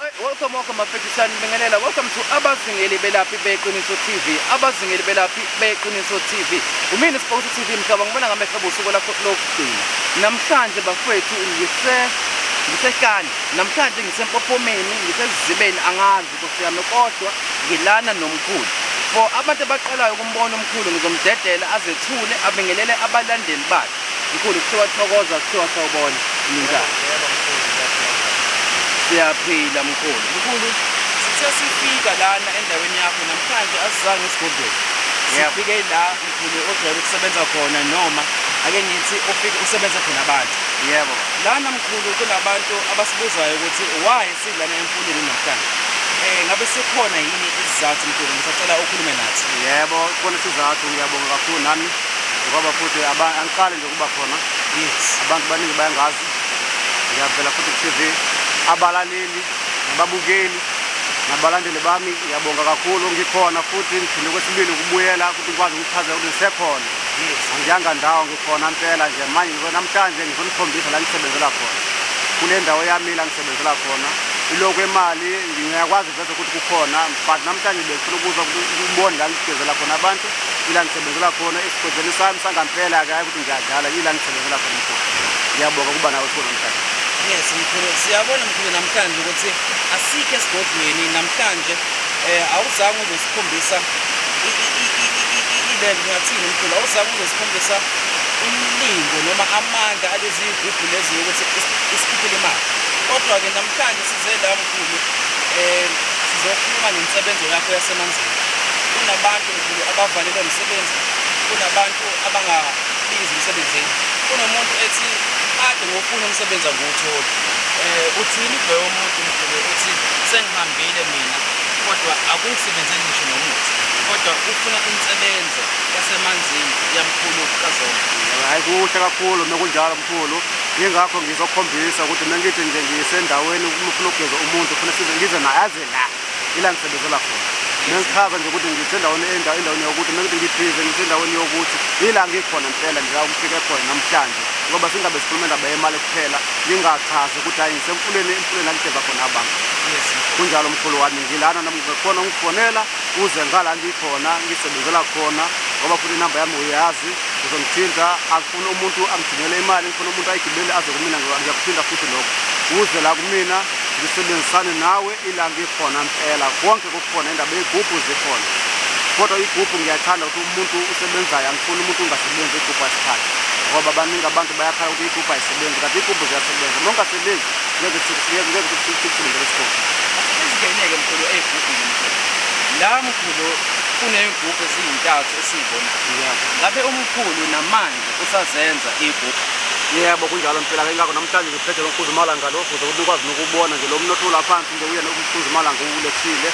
Welcome, welcome, Mafekisan Bengelela. Welcome to Abazingeli Belaphi Beqiniso TV. Abazingeli Belaphi Beqiniso TV. Umina Sport TV mhlaba ngibona ngamehlo busuku lakho lokugcina. Namhlanje bafethu ngise ngisehlane. Namhlanje ngisempophomeni, ngisezibeni angazi ukuthi yami kodwa ngilana nomkhulu. For abantu abaqalayo ukumbona umkhulu ngizomdedela azethule abingelele abalandeli bakhe. Mkhulu kuthiwa thokoza kuthiwa sawubona umnjani? Siyaphila mkhulu. Mkhulu sithe sifika lana endaweni yakho namhlanje asizange esigodlweni. Sifike la mkhulu ojwayele ukusebenza khona noma ake ngithi ufike usebenza khona abantu. Yebo. Lana mkhulu kunabantu abasibuzayo ukuthi why silana emfundini namhlanje. Eh ngabe sikhona yini isizathu mkhulu ngisacela ukhulume nathi. Yebo, khona isizathu ngiyabonga kakhulu nami. ngoba futhi angiqali nje ukuba khona yes abantu baningi bayangazi ngiyavela futhi ku-tv abalaleli nababukeli nabalandeli bami ngiyabonga kakhulu ngikhona futhi ngiphinde kwesibili ukubuyela ukuthi ngikwazi ukuchazela ukuthi ngisekhona angiyanga ndawo ngikhona mpela nje manje namhlanje ngizonikhombisa la ngisebenzela khona kule ndawo yami la ngisebenzela khona ilokhu imali ngiyakwazi vese ukuthi kukhona but namhlanje bengifuna ukuzwa ukubona la ngigezela khona abantu ila ngisebenzela khona esigodlweni sami sangampela ke hayi ukuthi ngiyadlala ila ngisebenzela khona mkhulu ngiyabonga ukuba nawe khona mhlawumbe yes mkhulu siyabona mkhulu namhlanje ukuthi asikho esigodlweni namhlanje um awuzange uzosikhombisa ile ngingathini mkhulu awuzange uzosikhombisa umlingo noma amandla alezi yigubhu lezi yokuthi isikhiphile imali kodwa-ke namhlanje size la mkhulu Nkulunkulu um sizokhuluma ngensebenzo yakho yasemanzini kunabantu mkhulu abavalelwa umsebenzi kunabantu abangabizi emsebenzini kunomuntu ethi kade ngofuna umsebenzi angiwutholi um uthini ubheke umuntu mkhulu uthi sengihambile mina kodwa akungisebenzeli ngisho nomuthi kodwa ufuna insebenzo yasemanzini yamkhulu kazona hhayi kuhle kakhulu uma kunjalo mkhulu Yingakho ngizokhombisa ukuthi mengithi nje ngisendaweni uma ufuna ukugeza umuntu ufuna size ngize naye aze la ila ngisebenzela khona mengichaza nje ukuthi ngisendaweni endaweni yokuthi mengithi ngibhize ngisendaweni yokuthi yila ngikhona mpela nje ukufike khona namhlanje ngoba singabe sikhuluma indaba yemali kuphela ngingachazi ukuthi hayi ngisemfuleni emfuleni angigeza khona abantu kunjalo mkhulu wami ngilana namkhona ungifonela uze ngala ngikhona ngisebenzela khona ngoba futhi inamba yami uyazi uzongithinta Ngifuna umuntu angigcinele imali, ngifuna umuntu ayigibele aze kumina ngiyakuphinda futhi lokho. Uze la kumina ngisebenzisane nawe ilanga ikhona impela. Konke kukhona indaba yey'gubhu zikhona. Kodwa igubhu ngiyathanda ukuthi umuntu usebenzayo angifuni umuntu ungasebenzi igubhu asikhathi. Ngoba baningi abantu bayakhala ukuthi igubhu ayisebenzi kanti igubhu ziyasebenza. Uma ungasebenzi ngeke sikulindele isigubhu. Asingeneke mkhulu ey'gubhini mkhulu. La mkhulu kuney'gubhu eziyintathu. esiyibonayo ngabe umkhulu namanje usazenza igugu yebo kunjalo mpela ke ngakho namhlanje ngiphethe lo mkhuzi malanga lo ukuze ubikwazi nokubona nje lo mnotho laphansi nje uyena umkhuzi malanga uwulethile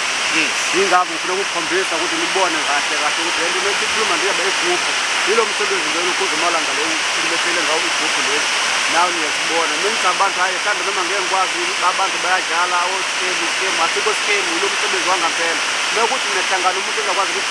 yingakho ngifuna ukukhombisa ukuthi nibone kahle kahle ukuthi lento lento ikhuluma nje yabe igubhu yilo msebenzi lo umkhuzi malanga lo ulethele ngawo igubhu leli nawe niyazibona nonke abantu hayi mhlawumbe noma ngeke ngikwazi abantu bayadlala oskemu skemu asikho skemu yilo msebenzi wangampela nokuthi nehlangana umuntu engakwazi ukuthi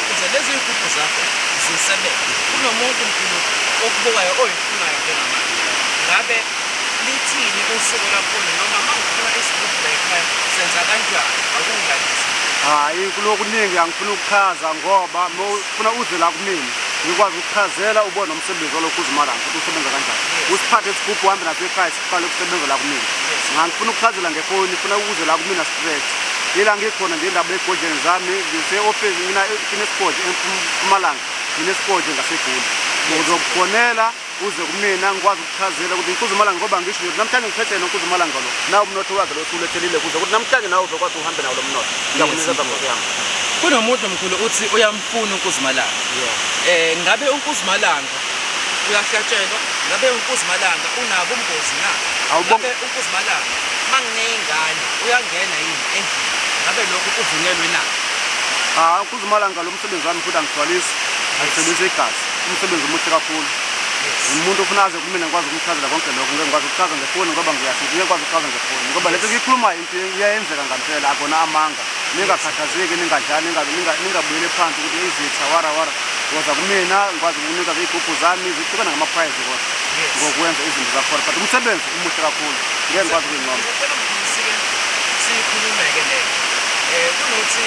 Ukuze lezi nkukhu zakho zisebenze, kunomuntu Mguludu okubukayo oyifunayo njengamanje. Ngabe lithini usiko lakhona noma uma ngifuna isigubhu la ekhaya senza kanjani? Akungilalise. Hhayi kunokuningi angifuni ukuchaza ngoba uma ufuna uze la kumina ngikwazi ukuchazela ubone nomsebenzi walokhu uzimala ukuthi usebenza kanjani. Usiphathe isigubhu uhambe naso ekhaya. Qala ukusebenza la kumina. Ngangifuna ukuchazela ngefoni, ngifuna ukuze la kumina straight. Yila ngikhona nje indaba egodleni zami, ngise office mina kinesigodle eMpumalanga, nginesigodle ngaseGoli. Uzokufonela uze kumina ngikwazi ukuchazela ukuthi inkuzumalanga ngoba ngisho nje namhlanje ngiphethe yena inkuzumalanga lo nawo umnotho wakhe lo usulethelile kuze ukuthi namhlanje nawe uzokwazi uhambe nawo lo mnotho ngiyakunikeza ngoba yami kunomuntu mkhulu uthi uyamfuna uNkuzimalanga yeah. eh ngabe uNkuzimalanga Uyahlatshelwa ngabe uNkuzimalanga unabo ubungozi na? Ngabe uNkuzimalanga mangineyingane uyangena yini endlini? Ngabe lokho kuvunyelwe na? Ah, uNkuzimalanga lo msebenzi wami futhi angigcwalisi, angisebenzise igazi. Umsebenzi omuhle kakhulu. Umuntu ofuna aze kumina ngikwazi ukumchazela konke lokho, ngeke ngikwazi ukuchaza ngefoni ngoba ngiyathi ngeke ngikwazi ukuchaza ngefoni ngoba lento engiyikhulumayo Iyayenzeka ngampela akona amanga. Ningakhathazeki ningadlali ningabuyele phansi ukuthi izitha wara wara. Ngoza kumina ngikwazi ukunika izigubhu zami zihlukana ngama prize kodwa. Ngokwenza izinto zakhona but umsebenzi umuhle kakhulu. Ngeke ngikwazi ukuyincoma. Ngicela ngifike sikhulumeke le. Eh kunothi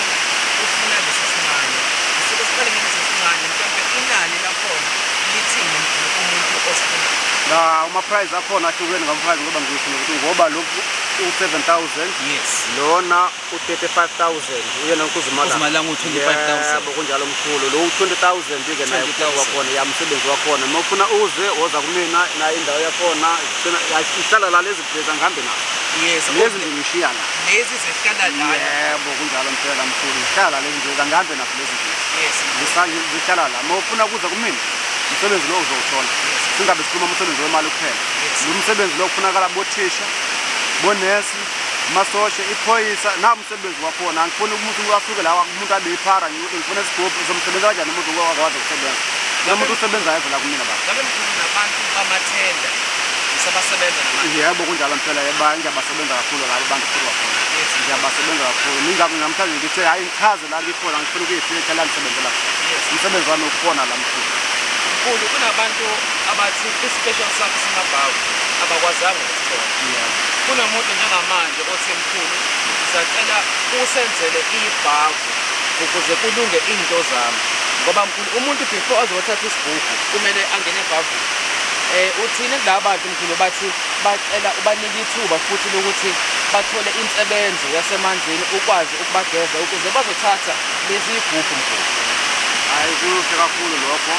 ufuna lesi sincane. Sike siqale ngalesi sincane mhlawumbe inani lakhona lithini umuntu osifuna. La uma prize akhona ahlukene ngama prize ngoba ngisho ngokuthi ngoba lokhu u-7000 yes lona u-35000 uyena nkuzimalanga u-25000 yebo kunjalo mkhulu lo u-20000 ke naye kuphela wakhona yamsebenzi wakhona uma ufuna uze woza kumina naye indawo yakhona ihlala la lezi bheza ngihambe nazo yes lezi nje ngishiya la lezi zihlala la yebo kunjalo mphela mkhulu zihlala lezi nje kangihambe nazo lezi nje yes zihlala la uma ufuna kuza kumina umsebenzi lo uzowuthola singabe sikhuluma umsebenzi wemali kuphela lo msebenzi lo kufunakala bothisha bonesi masosha iphoyisa nawo umsebenzi wakhona angifuni umuntu asuke lawa umuntu abe iphara ngikuthi ngifuna isigubhu uzomsebenza kanjani umuntu waze kusebenza la muntu usebenzayo vela kumina baba ngabe mkhulu nabantu bamathenda usabasebenza namanje yebo kunjalo mphela yeba ngiyabasebenza kakhulu labo bantu futhi bakhona ngiyabasebenza kakhulu ningakho namhlanje ngithe hayi ngichaze la ngikhona ngifuna ukuyifika la ngisebenzela umsebenzi wami ukufona la mkhulu mkhulu kunabantu abathi Isipheshana sakhe simabhavu abakwazanga ukusithola. Kunomuntu njengamanje othi mkhulu ngisacela usenzele ibhavu ukuze kulunge into zami ngoba mkhulu umuntu before azothatha isibhubhu kumele angene ebhavini eh uthini kulaba bantu mkhulu bathi bacela ubanike ithuba futhi lokuthi bathole insebenzo yasemanzini ukwazi ukubageza ukuze bazothatha lezi igubhu mkhulu hayi kuhle kakhulu lokho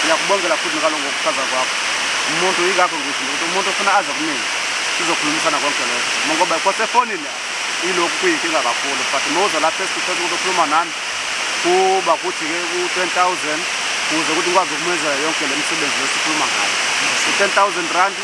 ngiyakubongela futhi ngaloko ukuchaza kwakho umuntu yingakho ngisho ukuthi umuntu ofuna aze kumina sizokhulumisana konke lokho ngoba kwasefonini ilokhu kuyinkinga kakhulu but uma uza lapha esithutheni ukuthi ukhuluma nami kuba kuthi-ke ku-ten thousand kuze ukuthi ngikwazi ukumenzela yonke le misebenzi lesikhuluma ngayo u-ten thousand randi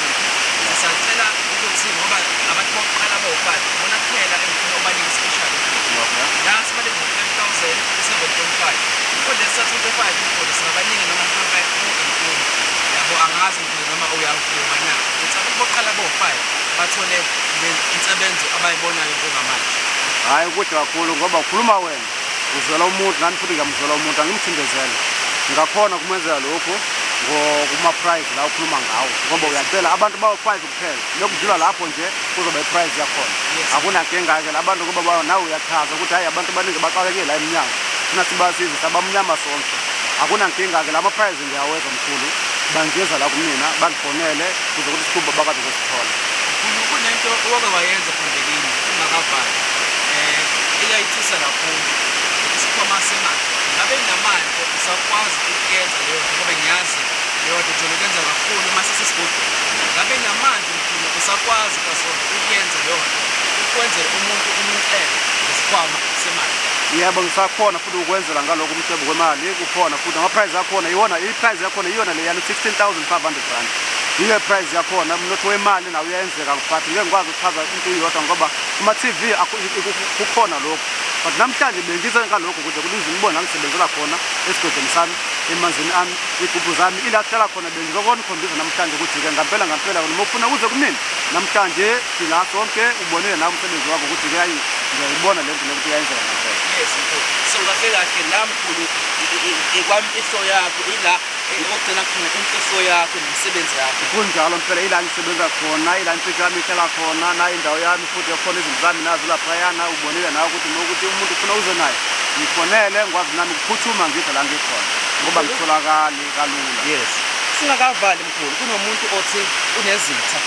Sacela ukuthi ngoba abantu bokuqala abawufake ibona kuphela engifuna ubanike i-special treatment. Nansi balenza ngo-5000 u-7.5. Umfundisi uthatha u-25 umfundisi mabaningi noma mhlampe u-18. Yabo angazi ukuthi noma uyawuvuma na. Ukuthi abantu bokuqala abawu-5 bathole le insebenzo abayibonayo njengamanje. Hhayi kude kakhulu ngoba ukhuluma wena. Uzwela umuntu nani futhi ngiyamuzwela umuntu angimthindezele ngakhona kumenzela lokhu kuma-prize la ukhuluma ngawo ngoba uyacela abantu bawu-five kuphela nokudlula lapho nje kuzoba i-prize yakhona akunankinga-ke la bantu kuba nawe uyachaza ukuthi hhayi abantu abaningi baxakekile la emnyango thina sibasiza sabamnyama sonke akunankinga-ke la ma-prize Ngiyaweza mkhulu bangeza la kumina bangifonele kuze ukuthi sikhumba bakwazi ukusithola. Mkhulu kunento owake wayenza phambilini ungakavali eh eyayithisa kakhulu isikhwama semali ngabe namali usakwazi ukuyenza leyo nto ngoba ngiyazi leyo nto jolo kuyenza kakhulu uma sisesigodini ngabe namali mkhulu usakwazi kasona ukuyenza leyo nto ukwenzela umuntu umcele ngesikhwama semali yebo ngisakhona futhi ukwenzela ngaloku umcebo kwemali khona futhi ama-price akhona iwona i-price yakhona iyona leyana 16500 rand yiyo i-price yakhona umnotho wemali nawo uyayenzeka but ngeke ngikwazi ukuchaza into iyodwa ngoba kuma-tv kukhona lokhu but namhlanje bengize ngalokhu ukuze kulize ngibone angisebenzela khona esigodini sami emanzini ami iy'gubhu zami ila kuhlala khona bengizokona ukhombisa namhlanje ukuthi-ke ngampela ngampela noma ufuna kuze kumina namhlanje sila sonke ubonile nawe umsebenzi wakho ukuthi-ke ayi ngiyayibona le nto le ukuthi uyayenzeka ngampela yes so kahle kahle nami kakhulu ikwamfihlo yakho ila okugcina khona imfihlo yakho nomsebenzi yakho kunjalo mfela ila ngisebenza khona ila imfihlo yami ihlala khona nayo indawo yami futhi ekhona izinto zami nazo laphayana ubonile nawe ukuthi nokuthi umuntu ufuna uze naye ngifonele ngikwazi nami kuphuthuma ngidla la ngikhona ngoba ngitholakali kalula yes singakavali mkhulu kunomuntu othi unezitha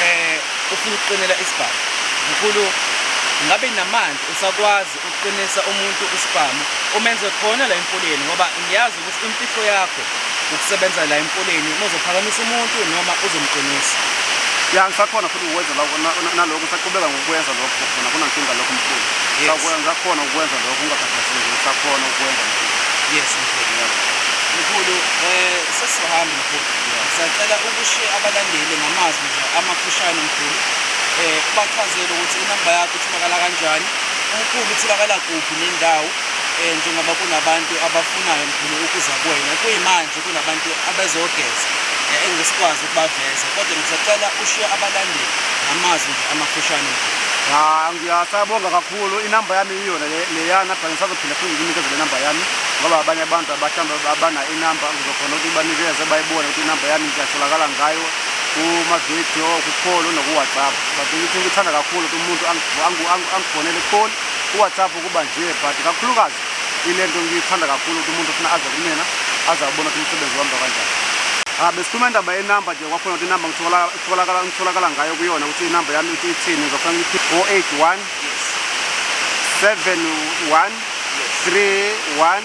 eh ufuna ukuqinela isibhamu mkhulu ngabe namandla usakwazi Ukuqinisa umuntu isibhamu umenze khona la emfuleni ngoba ngiyazi ukuthi imfihlo yakho ukusebenza la emfuleni uma uzophakamisa umuntu noma uzomqinisa. Ya ngisakhona futhi ukwenza lokho na- na- nalokho ngisaqhubeka ngokwenza lokho khona kunankinga lokho mkhulu. Yes. Sakwenza ngisakhona ukwenza lokho ungakhathazeki ngisakhona ukwenza mkhulu. Yes mkhulu. Yeah. Mkhulu eh sesizohamba mkhulu. Sacela ukushiye abalandeli ngamazwi nje amafushane mkhulu. Eh ubachazele ukuthi inamba yakho itholakala kanjani Mkhulu utholakala kuphi nendawo um njengoba kunabantu abafunayo mkhulu ukuza kuwena kuyimanje kunabantu abezogeza um engisikwazi ukubaveza kodwa ngisacela ushiye abalandeli ngamazwi nje amafushane mkhulu Ya, ngiyasabonga kakhulu inamba yami iyona le- leyana but ngisazophinde futhi nginikeze le namba yami ngoba abanye abantu abahlambe abana inamba ngizokhona ukuthi banikeze bayibone ukuthi inamba yami ngiyatholakala ngayo kumavidiyo kukhona onokuwhatsapp but ngithi ngikuthanda kakhulu ukuthi umuntu angifonele kukhona uwhatsapp ukuba nje but kakhulukazi ile nto ngiyithanda kakhulu ukuthi umuntu funa aze kumina aze abona ukuthi umsebenzi wamba kanjani ah, besikhuluma indaba yenumber nje kwakhona ukuthi inumber ngitholakala ngayo kuyona ukuthi inumber yami ithi ithini ngizofuna ngithi o eight one seven one three one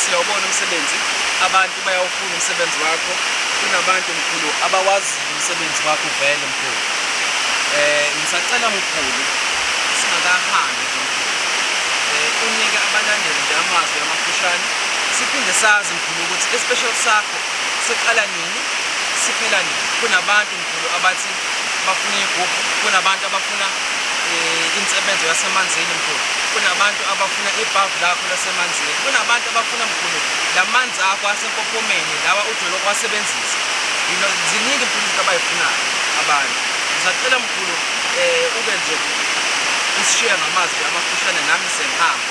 siyawubona umsebenzi abantu bayawufuna umsebenzi wakho kunabantu mkhulu abawazi umsebenzi wakho vele mkhulu eh ngisacela mkhulu singakahambi nje mkhulu eh unike abalandeli nje amazwi amafushane siphinde sazi Nokuthi ispecial sakho siqala nini siphela nini. Kunabantu mkhulu abathi bafuna iy'gubhu, kunabantu abafuna eh, insebenzo yasemanzini mkhulu, kunabantu abafuna ibhavu lakho lasemanzini, kunabantu abafuna mkhulu la manzi akho asempophomeni lawa ujwele ukuwasebenzisa. You know, ziningi mkhulu izinto abay'funayo abantu. Ngisacela mkhulu um ube nje usishiya ngamazwi amafushane nami sengihamba.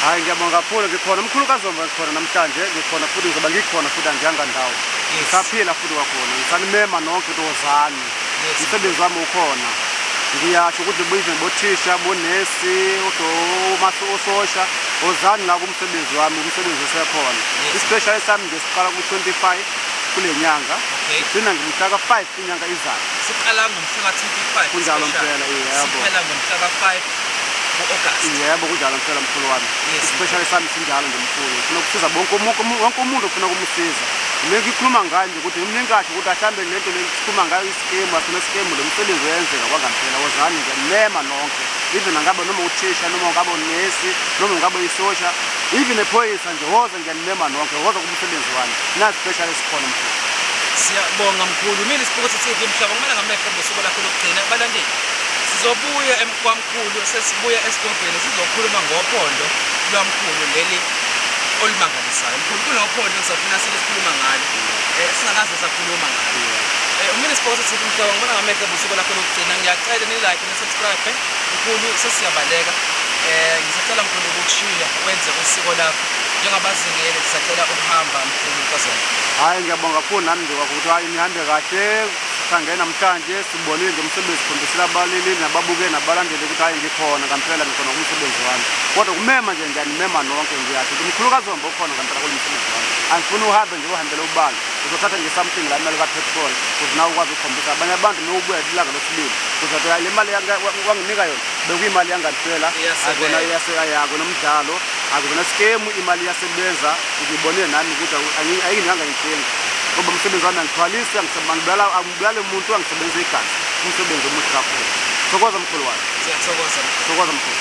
Hayi ngiyabonga kakhulu ngikhona umkhulu kazomba ngikhona namhlanje ngikhona futhi ngizoba ngikhona futhi angihanga ndawo ngisaphila futhi kwakhona ngisanimema nonke ukuthi wozani umsebenzi wami ukhona ngiyasho ukuthi buyize bothisha bonesi ososha wozani la kumsebenzi wami umsebenzi osekhona isipeshali sami nje siqala ku-25 kule nyanga ngigcina ngimhlaka 5 inyanga izayo siqala ngomhla ka-25 kunjalo mpela yebo siphela ngomhla ka-5 ku-august yebo kunjalo mpela mkhulu wami Yes, isipeshali sami sinjalo nje mkhulu ngifuna ukusiza bonke umu- umu- wonke umuntu ufuna ukumsiza mina ngikhuluma ngayo nje ukuthi ngimningi kahle ukuthi ahlambe le nto le sikhuluma ngayo isikemu asona isikemu lo msebenzi uyenzeka kwangampela wozani nje mema nonke even angabe noma uthisha noma ungabe unesi noma ungabe uyisosha even ephoyisa nje woza Ngiyanimema nonke kodwa kumsebenzi wami. Na special esikhona mkhulu. Siyabonga mkhulu. Mina isibuko sithi ngimhlaba kumele ngamehlo ngosuku lakho lokugcina abalandeli. Sizobuya emkwamkhulu sesibuya esidobheni sizokhuluma ngophondo lwamkhulu leli olumangalisayo. Mkhulu kunophondo safuna silikhuluma ngalo. Eh singakaze sakhuluma ngalo. Eh umile isibuko sithi ngimhlaba kumele ngamehlo ngosuku lakho lokugcina. Ngiyacela ni like ni subscribe. Mkhulu sesiyabaleka. Eh ngisacela mkhulu ukushiya wenze usiko lakho. njengabazingeli sisacela ukuhamba mkhulu nkosana hayi ngiyabonga kakhulu nami nje kwakuthi hayi nihambe kahle sange namhlanje sibonile nje umsebenzi sikhombisela abalili nababuke nabalandeli ukuthi hayi ngikhona ngampela ngikhona kumsebenzi wami kodwa kumema nje ngiyanimema nonke ngiyathi ukuthi mkhulukazi wambe ukhona ngampela kulo msebenzi wami angifuni uhambe nje uhambele ubala uzothatha nje something la imali kapetrol kuthi nawe ukwazi ukukhombisa abanye abantu nowubuya ilanga losibili kuzothi hayi le mali wanginika yona bekuyimali yangampela akona iyaseka yako nomdlalo Akuzona skemu imali iyasebenza ngibone nami ukuthi ayinganga inkinga ngoba umsebenzi wami angithwalisi angibulala angibulale umuntu angisebenzisa igazi umsebenzi omuhle kakhulu thokoza mkhulu wami siyathokoza thokoza mkhulu